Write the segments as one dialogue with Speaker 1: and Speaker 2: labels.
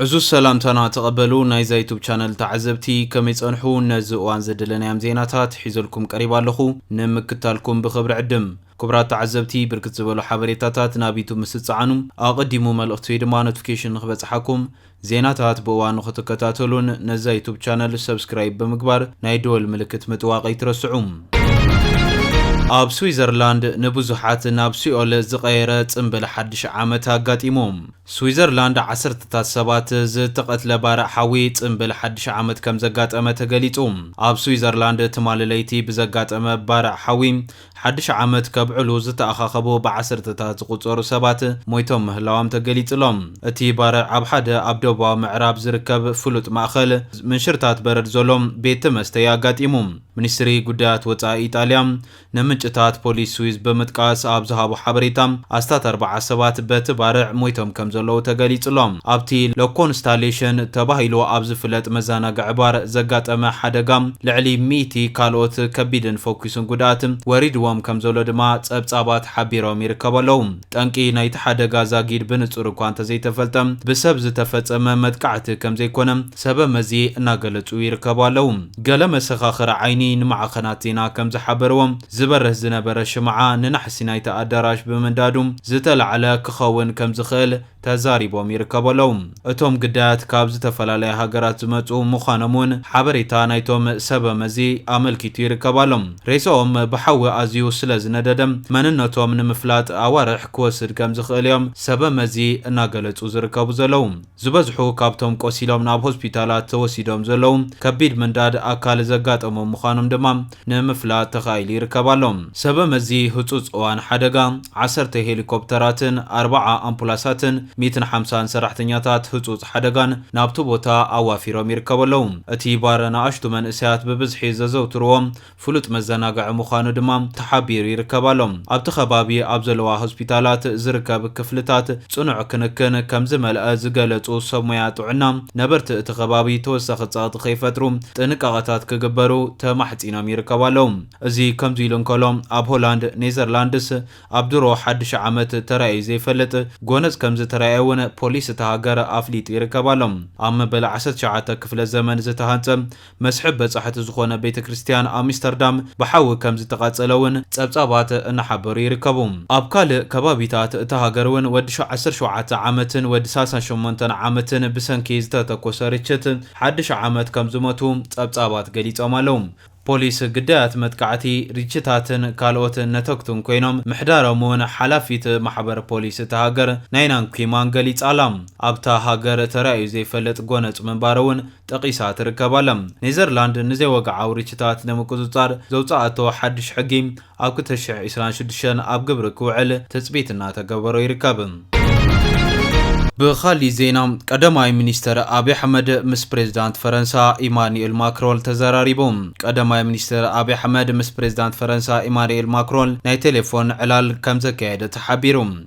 Speaker 1: ዕዙዝ ሰላምታና ተቐበሉ ናይዛ ዩቱብ ቻነል ተዓዘብቲ ከመይ ጸንሑ ነዚ እዋን ዘደለናዮም ዜናታት ሒዘልኩም ቀሪባ ኣለኹ ንምክታልኩም ብኽብሪ ዕድም ክቡራት ተዓዘብቲ ብርክት ዝበሉ ሓበሬታታት ናብ ዩቱብ ምስ ዝጸዓኑ ኣቐዲሙ መልእኽቲ ወይ ድማ ኖቲፊኬሽን ንክበጽሓኩም ዜናታት ብእዋኑ ክትከታተሉን ነዛ ዩቱብ ቻነል ሰብስክራይብ ብምግባር ናይ ደወል ምልክት ምጥዋቕ ኣይትረስዑ ኣብ ስዊዘርላንድ ንብዙሓት ናብ ሲኦል ዝቐየረ ጽምብል ሓድሽ ዓመት ኣጋጢሙ። ስዊዘርላንድ ዓሰርተታት ሰባት ዝተቐትለ ባርዕ ሓዊ ጽምብል ሓድሽ ዓመት ከም ዘጋጠመ ተገሊጹ። ኣብ ስዊዘርላንድ ትማሊ ለይቲ ብዘጋጠመ ባርዕ ሓዊ ሓድሽ ዓመት ከብዕሉ ዝተኣኻኸቡ ብዓሰርተታት ዝቑጸሩ ሰባት ሞይቶም ምህላዎም ተገሊጹ'ሎ። እቲ ባርዕ ኣብ ሓደ ኣብ ደቡባዊ ምዕራብ ዝርከብ ፍሉጥ ማእከል ምንሽርታት በረድ ዘሎ ቤተ መስተ'ዩ ኣጋጢሙ። ሚኒስትሪ ጉዳያት ወጻኢ ኢጣልያ ንምንጭታት ፖሊስ ስዊዝ ብምጥቃስ ኣብ ዝሃቦ ሓበሬታ፣ ኣስታት ኣርብዓ ሰባት በቲ ባርዕ ሞይቶም ከምዘለዉ ተገሊጹ'ሎ። ኣብቲ ለኮንስታሌሽን ተባሂሉ ኣብ ዝፍለጥ መዘናግዒ ባር ዘጋጠመ ሓደጋ ልዕሊ ሚእቲ ካልኦት ከቢድን ፈኲስን ጉድኣት ወሪድዎም ከምዘሎ ድማ ጸብጻባት ሓቢሮም ይርከቡ ኣለዉ። ጠንቂ ናይቲ ሓደጋ ዛጊድ ብንጹር እኳ እንተዘይተፈልጠ፣ ብሰብ ዝተፈጸመ መጥቃዕቲ ከምዘይኮነ፣ ሰበ መዚ እናገለፁ ይርከቡ ኣለው። ገለ መሰኻኽር ዓይኒ ንማዕኸናት ዜና ከምዝሓበርዎ፣ ዝበርህ ዝነበረ ሽምዓ ንናሕሲ ናይቲ ኣዳራሽ ብምንዳዱ ዝተላዕለ ክኸውን ከምዝኽእል ተዛሪቦም ይርከቡ ኣለው። እቶም ግዳያት ካብ ዝተፈላለያ ሃገራት ዝመፁ ምዃኖም እውን ሓበሬታ ናይቶም ሰበ መዚ ኣመልኪቱ ይርከብ ኣሎ። ሬሰኦም ብሓዊ ኣዝዩ ስለዝነደደ መንነቶም ንምፍላጥ ኣዋርሕ ክወስድ ከምዝኽእል እዮም ሰበ መዚ እናገለፁ ዝርከቡ ዘለው። ዝበዝሑ ካብቶም ቆሲሎም ናብ ሆስፒታላት ተወሲዶም ዘለዉ ከቢድ ምንዳድ ኣካል ዘጋጠሞም ምዃኖም ድማ ንምፍላጥ ተኻኢሉ ይርከብ ኣሎ። ሰበ መዚ ህጹጽ እዋን ሓደጋ፣ ዓሰርተ ሄሊኮፕተራትን ኣርባዓ ኣምፑላሳትን ሚእትን ሓምሳን ሰራሕተኛታት ህጹጽ ሓደጋን ናብቲ ቦታ ኣዋፊሮም ይርከቡ ኣለዉ። እቲ ባር ንኣሽቱ መንእሰያት ብብዝሒ ዘዘውትርዎ ፍሉጥ መዘናግዒ ምዃኑ ድማ ተሓቢሩ ይርከብ ኣሎ። ኣብቲ ከባቢ ኣብ ዘለዋ ሆስፒታላት ዝርከብ ክፍልታት ፅኑዕ ክንክን ከምዝመልኣ ዝገለፁ ሰብ ሞያ ጥዕና፣ ነበርቲ እቲ ከባቢ ተወሳኺ ፀቕጢ ከይፈጥሩ ጥንቃቐታት ክግበሩ ተማሕፂኖም ይርከቡ ኣለው። እዚ ከምዚ ኢሉ እንከሎ ኣብ ሆላንድ፣ ኔዘርላንድስ ኣብ ድሮ ሓዱሽ ዓመት ተራእዩ ዘይፈልጥ ጎነፅ ከምዝተራእየ እውን ፖሊስ እታ ሃገር ኣፍሊጡ ይርከብ ኣሎ። ኣብ መበል ዓሰርተ ትሽዓተ ክፍለ ዘመን ዝተሃንፀ መስሕብ በጻሕቲ ዝኾነ ቤተ ክርስትያን ኣሚስተርዳም ብሓዊ ከም ዝተቓጸለ እውን ጸብጻባት እናሓበሩ ይርከቡ። ኣብ ካልእ ከባቢታት እታ ሃገር እውን ወዲ ዓሰርተ ሸውዓተ ዓመትን ወዲ ሳልሳን ሸሞንተን ዓመትን ብሰንኪ ዝተተኮሰ ርችት ሓድሽ ዓመት ከም ዝሞቱ ጸብጻባት ገሊጾም ኣለዉ። ፖሊስ ግዳያት መጥቃዕቲ ርችታትን ካልኦት ነተግቱን ኮይኖም ምሕዳሮም እውን ሓላፊት ማሕበር ፖሊስ እታ ሃገር ናይና ንኩይማን ገሊጻ ኣላ። ኣብታ ሃገር ተራእዩ ዘይፈልጥ ጎነጽ ምንባሩ እውን ጠቒሳ ትርከብ ኣላ። ኔዘርላንድ ንዘይወግዓዊ ርችታት ንምቁጽጻር ዘውጽኣቶ ሓድሽ ሕጊ ኣብ ክልተ ሽሕ ዒስራን ሽዱሽተን ኣብ ግብሪ ክውዕል ትጽቢት እናተገበሮ ይርከብ። ብኻሊእ ዜና ቀዳማይ ሚኒስተር ኣብይ ኣሕመድ ምስ ፕሬዝዳንት ፈረንሳ ኢማኑኤል ማክሮል ተዘራሪቡ። ቀዳማይ ሚኒስተር ኣብይ ኣሕመድ ምስ ፕሬዝዳንት ፈረንሳ ኢማኑኤል ማክሮል ናይ ቴሌፎን ዕላል ከምዘካየደ ተሓቢሩ።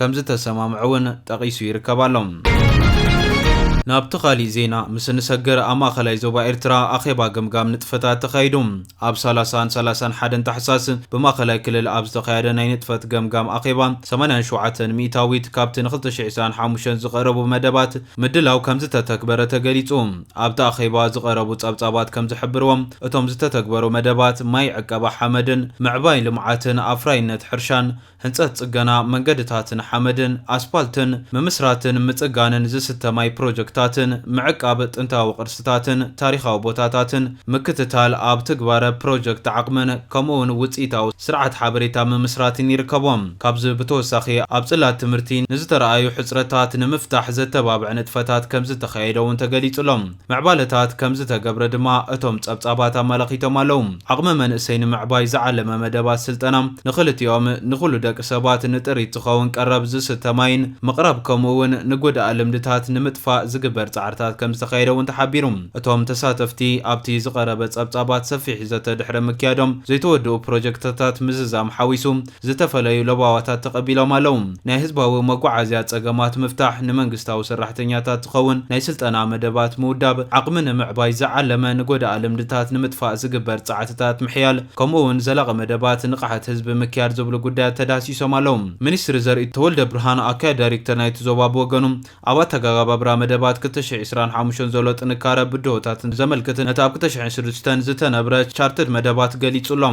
Speaker 1: ከምዝተሰማምዑ እውን ጠቒሱ ይርከብ ኣሎ። ናብቲ ካሊእ ዜና ምስ እንሰግር ኣብ ማእኸላይ ዞባ ኤርትራ ኣኼባ ገምጋም ንጥፈታት ተኻይዱ። ኣብ ሰላሳን ሰላሳን ሓደን ታሕሳስ ብማእኸላይ ክልል ኣብ ዝተኻየደ ናይ ንጥፈት ገምጋም ኣኼባ ሰማንያን ሸውዓተን ሚኢታዊት ካብቲ ን ክልተ ሽሕ ዒስራን ሓሙሽተን ዝቐረቡ መደባት ምድላው ከምዝተተግበረ ተገሊፁ። ኣብቲ ኣኼባ ዝቐረቡ ፀብፃባት ከምዝሕብርዎ እቶም ዝተተግበሩ መደባት ማይ ዕቀባ ሓመድን ምዕባይ ልምዓትን ኣፍራይነት ሕርሻን ህንፀት ፅገና መንገድታትን ሓመድን ኣስፓልትን ምምስራትን ምፅጋንን ዝስተ ማይ ፕሮጀክታትን ምዕቃብ ጥንታዊ ቅርስታትን ታሪኻዊ ቦታታትን ምክትታል ኣብ ትግባረ ፕሮጀክት ዓቕምን ከምኡ እውን ውፅኢታዊ ስርዓት ሓበሬታ ምምስራትን ይርከቦም። ካብዚ ብተወሳኺ ኣብ ፅላት ትምህርቲ ንዝተርኣዩ ሕፅረታት ንምፍታሕ ዘተባብዕ ንጥፈታት ከምዝተኻየደ እውን ተገሊፁ ኣሎ። ምዕባለታት ከምዝተገብረ ድማ እቶም ፀብፃባት ኣመላኺቶም ኣለው። ዓቕሚ መንእሰይ ንምዕባይ ዝዓለመ መደባት ስልጠና ንኽልቲኦም፣ ንኹሉ ደቂ ሰባት፣ ንጥሪት ዝኸውን ቀረብ ዝስተ ማይን ምቕራብ ከምኡ እውን ንጎዳኢ ልምድታት ንምጥፋእ ዝግበር ፃዕርታት ከምዝተኻየደ እውን ተሓቢሩ። እቶም ተሳተፍቲ ኣብቲ ዝቐረበ ፀብፃባት ሰፊሕ ዘተ ድሕሪ ምክያዶም ዘይተወድኡ ፕሮጀክትታት ምዝዛም ሓዊሱ ዝተፈለዩ ለበዋታት ተቐቢሎም ኣለዉ። ናይ ህዝባዊ መጓዓዝያ ጸገማት ምፍታሕ፣ ንመንግስታዊ ሰራሕተኛታት ዝኸውን ናይ ስልጠና መደባት ምውዳብ፣ ዓቕሚ ንምዕባይ ዝዓለመ ንጎዳኢ ልምድታት ንምጥፋእ ዝግበር ጸዕትታት ምሕያል፣ ከምኡ'ውን ዘላቒ መደባት ንቕሓት ህዝቢ ምክያድ ዝብሉ ጉዳያት ተዳህሲሶም ኣለዉ። ሚኒስትሪ ዘርኢ ተወልደብርሃን፣ ኣካያዲ ዳይሬክተር ናይቲ ዞባ ብወገኑ፣ ኣብ ኣተጋጋባብራ መደባት ክልተ ሽሕን ዕስራን ሓሙሽተን ዘሎ ጥንካረ ብድሆታትን ዘመልክት ነቲ ኣብ ክልተ ሽሕን ሽዱሽተን ዝተነብረ ቻርትድ መደባት ገሊጹ ኣሎ።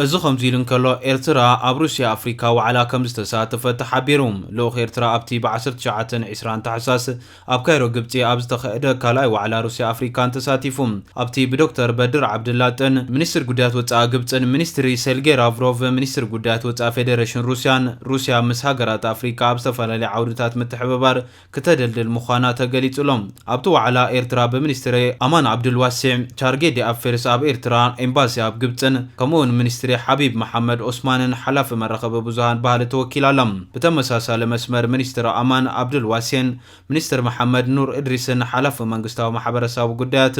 Speaker 1: እዚ ከምዚ ኢሉ እንከሎ፣ ኤርትራ ኣብ ሩስያ ኣፍሪካ ዋዕላ ከምዝተሳተፈት ተሓቢሩ። ልኡኽ ኤርትራ ኣብቲ ብ ዓሰርተ ትሽዓተ ን ዕስራን ታሕሳስ ኣብ ካይሮ ግብጺ ኣብ ዝተኸየደ ካልኣይ ዋዕላ ሩስያ ኣፍሪካን ተሳቲፉ። ኣብቲ ብዶክተር በድር ዓብደላጥን ሚኒስትር ጉዳያት ወጻኢ ግብጽን ሚኒስትሪ ሴልጌ ራቭሮቭ ሚኒስትር ጉዳያት ወጻኢ ፌደረሽን ሩስያን ሩስያ ምስ ሃገራት ኣፍሪቃ ኣብ ዝተፈላለየ ዓውድታት ምትሕብባር ክተደልድል ምዃና ተገሊጹ'ሎ። ኣብቲ ዋዕላ ኤርትራ ብሚኒስትሪ ኣማን ዓብዱልዋሲዕ፣ ቻርጌ ዲኣፌርስ ኣብ ኤርትራ፣ ኤምባሲ ኣብ ግብጽን ከምኡ'ውን ሚኒስትሪ ሓቢብ መሓመድ ኦስማንን ሓላፊ መራኸቢ ብዙሃን ባህሊ ተወኪላ ኣላ። ብተመሳሳሊ መስመር ሚኒስትሪ ኣማን ዓብዱልዋሲዕን ሚኒስትር መሓመድ ኑር እድሪስን ሓላፊ መንግስታዊ ማሕበረሰባዊ ጉዳያት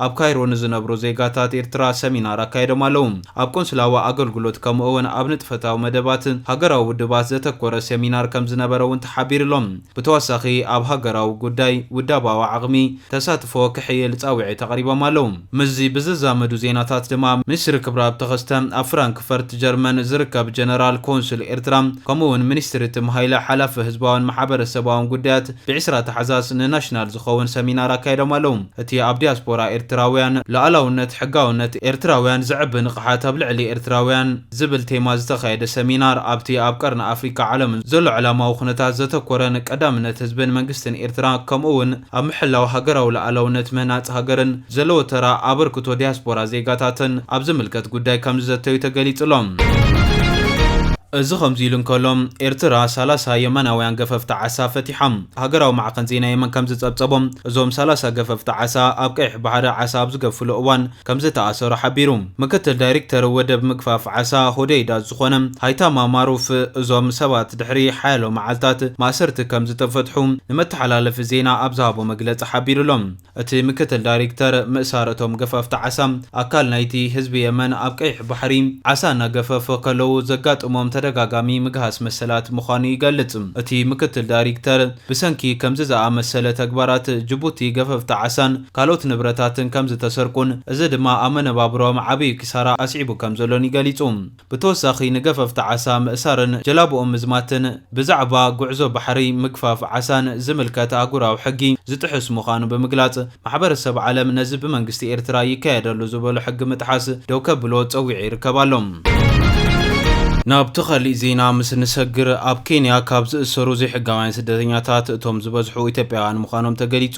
Speaker 1: ኣብ ካይሮ ንዝነብሩ ዜጋታት ኤርትራ ሰሚናር ኣካይዶም ኣለዉ። ኣብ ቆንስላዊ ኣገልግሎት ከምኡ እውን ኣብ ንጥፈታዊ መደባት ሃገራዊ ውድባት ዘተኮረ ሰሚናር ከምዝነበረ እውን ተሓቢሩ'ሎ። ብተወሳኺ ኣብ ሃገራዊ ጉዳይ ውዳባዊ ዓቕሚ ተሳትፎ ክሕይል ጻውዒት ኣቕሪቦም ኣለዉ። ምስዚ ብዝዛመዱ ዜናታት ድማ ሚኒስትሪ ክብረኣብ ተኸስተ፣ ኣብ ፍራንክፈርት ጀርመን ዝርከብ ጀነራል ኮንሱል ኤርትራ ከምኡ'ውን ሚኒስትሪ ትም ሃይለ ሓላፊ ህዝባውን ማሕበረሰባውን ጉዳያት ብዒስራ ታሕዛስ ንናሽናል ዝኸውን ሰሚናር ኣካይዶም ኣለው። እቲ ኣብ ዲያስፖራ ኤርትራውያን ሉኣላውነት ሕጋውነት ኤርትራውያን ዘዕቢ ንቕሓት ኣብ ልዕሊ ኤርትራውያን ዝብል ቴማ ዝተኻየደ ሰሚናር ኣብቲ ኣብ ቀርኒ ኣፍሪካ ዓለምን ዘሎ ዕላማዊ ኩነታት ዘተኮረን ቀዳምነት ህዝብን መንግስትን ኤርትራ ከምኡ'ውን ኣብ ምሕላው ሃገራዊ ልኣላውነት ምህናጽ ሃገርን ዘለዎ ተራ ኣበርክቶ ዲያስፖራ ዜጋታትን ኣብ ዝምልከት ጉዳይ ከምዝዘተዩ ተገሊጹ'ሎ። እዚ ከምዚ ኢሉ እንከሎ፣ ኤርትራ ሰላሳ የመናውያን ገፈፍቲ ዓሳ ፈቲሓ። ሃገራዊ ማዕኸን ዜና የመን ከምዝጸብጸቦ፣ እዞም ሰላሳ ገፈፍቲ ዓሳ ኣብ ቀይሕ ባሕሪ ዓሳ ኣብ ዝገፍፍሉ እዋን፣ ከምዝተኣሰሩ ሓቢሩ። ምክትል ዳይሪክተር ወደብ ምግፋፍ ዓሳ ሆደይዳ ዝኾነ ሃይታማ ማሩፍ እዞም ሰባት ድሕሪ ሓያሎ መዓልታት ማእሰርቲ ከምዝተፈትሑ ንመተሓላለፊ ዜና ኣብ ዝሃቦ መግለጺ ሓቢሩ'ሎ። እቲ ምክትል ዳይሪክተር ምእሳር እቶም ገፈፍቲ ዓሳ ኣካል ናይቲ ህዝቢ የመን ኣብ ቀይሕ ባሕሪ ዓሳ እናገፈፉ ከለዉ ዘጋጥሞም ተደጋጋሚ ምግሃስ መሰላት ምዃኑ ይገልጽ። እቲ ምክትል ዳይሪክተር ብሰንኪ ከምዚ ዝኣመሰለ ተግባራት ጅቡቲ ገፈፍቲ ዓሳን ካልኦት ንብረታትን ከም ዝተሰርቁን እዚ ድማ ኣብ መነባብሮኦም ዓብዪ ኪሳራ ኣስዒቡ ከም ዘሎን እዩ ገሊጹ። ብተወሳኺ ንገፈፍቲ ዓሳ ምእሳርን ጀላቡኦም ምዝማትን ብዛዕባ ጉዕዞ ባሕሪ፣ ምግፋፍ ዓሳን ዝምልከት ኣህጉራዊ ሕጊ ዝጥሕስ ምዃኑ ብምግላጽ፣ ማሕበረሰብ ዓለም ነዚ ብመንግስቲ ኤርትራ ይካየድ ኣሎ ዝበሎ ሕጊ ምጥሓስ ደው ከብሎ ጸዊዑ ይርከብ ኣሎ። ናብቲ ካሊእ ዜና ምስ ንሰግር፣ ኣብ ኬንያ ካብ ዝእሰሩ ዘይሕጋውያን ስደተኛታት እቶም ዝበዝሑ ኢትዮጵያውያን ምዃኖም ተገሊጹ።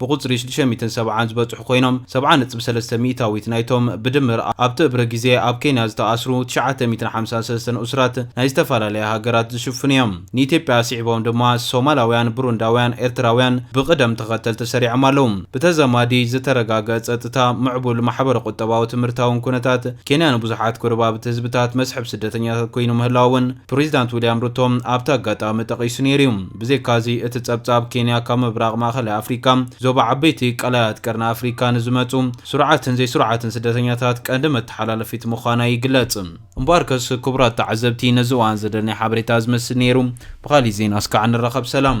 Speaker 1: ብቑጽሪ ሽዱሽተ ሚእትን ሰብዓን ዝበጽሑ ኮይኖም፣ ሰብዓ ነጥቢ ሰለስተ ሚእታዊት ናይቶም ብድምር ኣብቲ እብረ ግዜ ኣብ ኬንያ ዝተኣስሩ ትሽዓተ ሚእትን ሓምሳን ሰለስተን እሱራት ናይ ዝተፈላለያ ሃገራት ዝሽፍኑ እዮም። ንኢትዮጵያ ኣስዒቦም ድማ ሶማላውያን፣ ብሩንዳውያን፣ ኤርትራውያን ብቕደም ተኸተል ተሰሪዖም ኣለዉ። ብተዛማዲ ዝተረጋገ ጸጥታ፣ ምዕቡል ማሕበረ-ቁጠባዊ ትምህርታውን ኩነታት፣ ኬንያ ንብዙሓት ጎረባብቲ ህዝብታት መስሕብ ስደተኛታት ኮይኑ ምህላዉ እውን፣ ፕሬዚዳንት ዊልያም ሩቶ ኣብቲ ኣጋጣሚ ጠቒሱ ነይሩ እዩ። ብዘይካዚ እቲ ጸብጻብ ኬንያ ካብ ምብራቕ ማእኸላይ ኣፍሪካ፣ ዞባ ዓበይቲ ቀላያት ቀርኒ ኣፍሪካ ንዝመጹ ስሩዓትን ዘይስሩዓትን ስደተኛታት ቀንዲ መተሓላለፊት ምዃና ይግለጽ። እምበኣርከስ ክቡራት ተዓዘብቲ ነዚ እዋን ዝደለናዮ ሓበሬታ ዝመስል ነይሩ። ብኻሊእ ዜና እስካዕ ንራኸብ ሰላም።